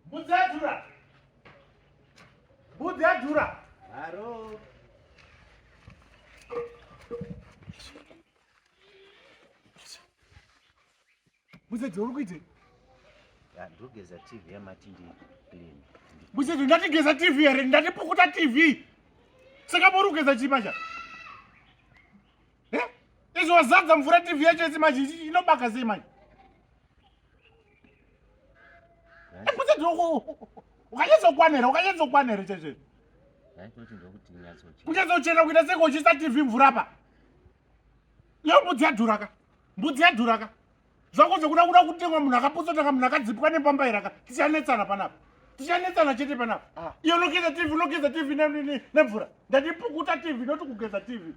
Mbudzi yadhura. Mbudzi yadhura. Haro. Muzedzo uri kuite? Ndogeza TV yamati ndi clean. Muzedzo ndati geza TV here? Ndati pukuta TV. Saka muri kugeza chii pacha? Eh? Izvo wazadza mvura TV yacho yese manje inobaka sei manje? ukanyatsokwanaere ukanyatsokwanaere chezve kunyatsochena kuita seko uchisa tv mvura pa iyo mbudzi yadhuraka mbudzi yadhuraka zvako zvekuda kuda kutengwa munhu akapotsotanga munhu akadzipwa nepamba iraka tichanetsana panapa tichanetsana chete panapa ah. iyo unogeza tv unogeza tv nemvura ndatipukuta tv noti kugeza tv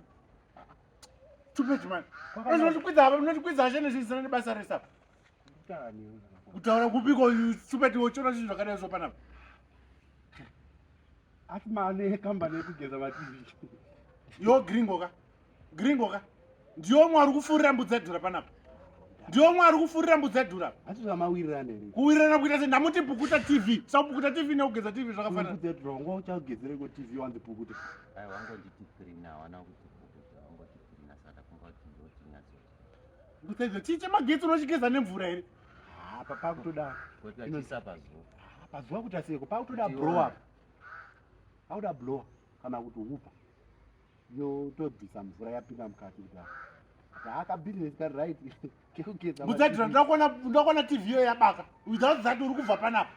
kutaura kupiko stupid wochona zvinhu zvakadai zvo panapa asi mane kambani yekugeza mativi yo gringo ka gringo ka ndiyo mwari kufurira mbudzi yadhura panapa ndiyo mwari kufurira mbudzi yadhura atizvamawirirane kuwirirana kuita se ndamuti pukuta tv sakupukuta tv nekugeza tv zvakafanana mbudzi yadhura wanga uchagezereko tv wanzi pukuta aiwangonditi three now ana kuti Chii chemagetsi unochigeza nemvura here? Ah, papa kutoda. Kutoisa pazuva. Ah, pazuva kuti asiyeko. Papa kutoda blow up. Pauda blow kana kuti upa. Yo tobvisa mvura yapinda mukati kudai. Haka business ka right. Kekugeza. Muzadira ndakona ndakona TV yo yabaka. Without that uri kubva panapa.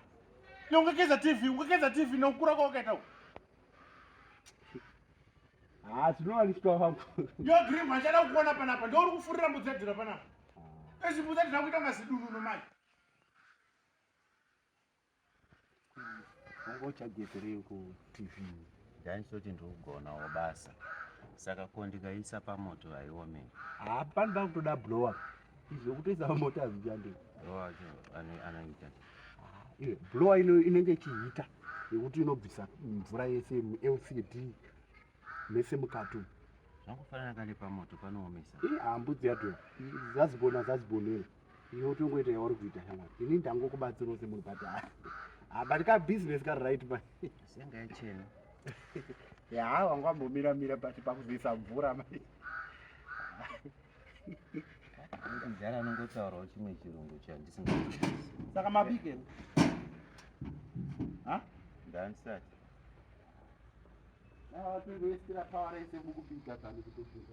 Nongekeza TV, ungekeza TV nokura kwakaita. Ah, tinowa ndiswa vangu. Yo dream achada kukuona panapa. Ndouri kufurira mbudzi yadhura panapa. Ah. Ezi mbudzi yadhura kuita mazidumu nomai. Wangu uchageterei ku TV. Ndaisoti ndikugonawo basa. Saka ko ndikaisa pamoto haiome. Hapana ah, ndakutoda blower. Izvo kutoisa pamoto hazvichandei. Blower acho anoita. Eh, blowa ino inenge ichiita yekuti inobvisa mvura yese lcd mese mukati zvakufanana kale pamoto panoomesa eh, hambudzi yato zazibona zazibonero iyo tongoita yauri kuita shamwari ini ndangokubatsirawo semunhu but ah, but ka business kari right ma senga yachena ya wanga wambomira mira but pakuzoisa mvura mai Mkuzara anongotaurawo chimwe chirungu chandisingazwisisi. Saka mabike. Ha? Ndansati. Na watu ndio sira power race mkupika kana kutopika.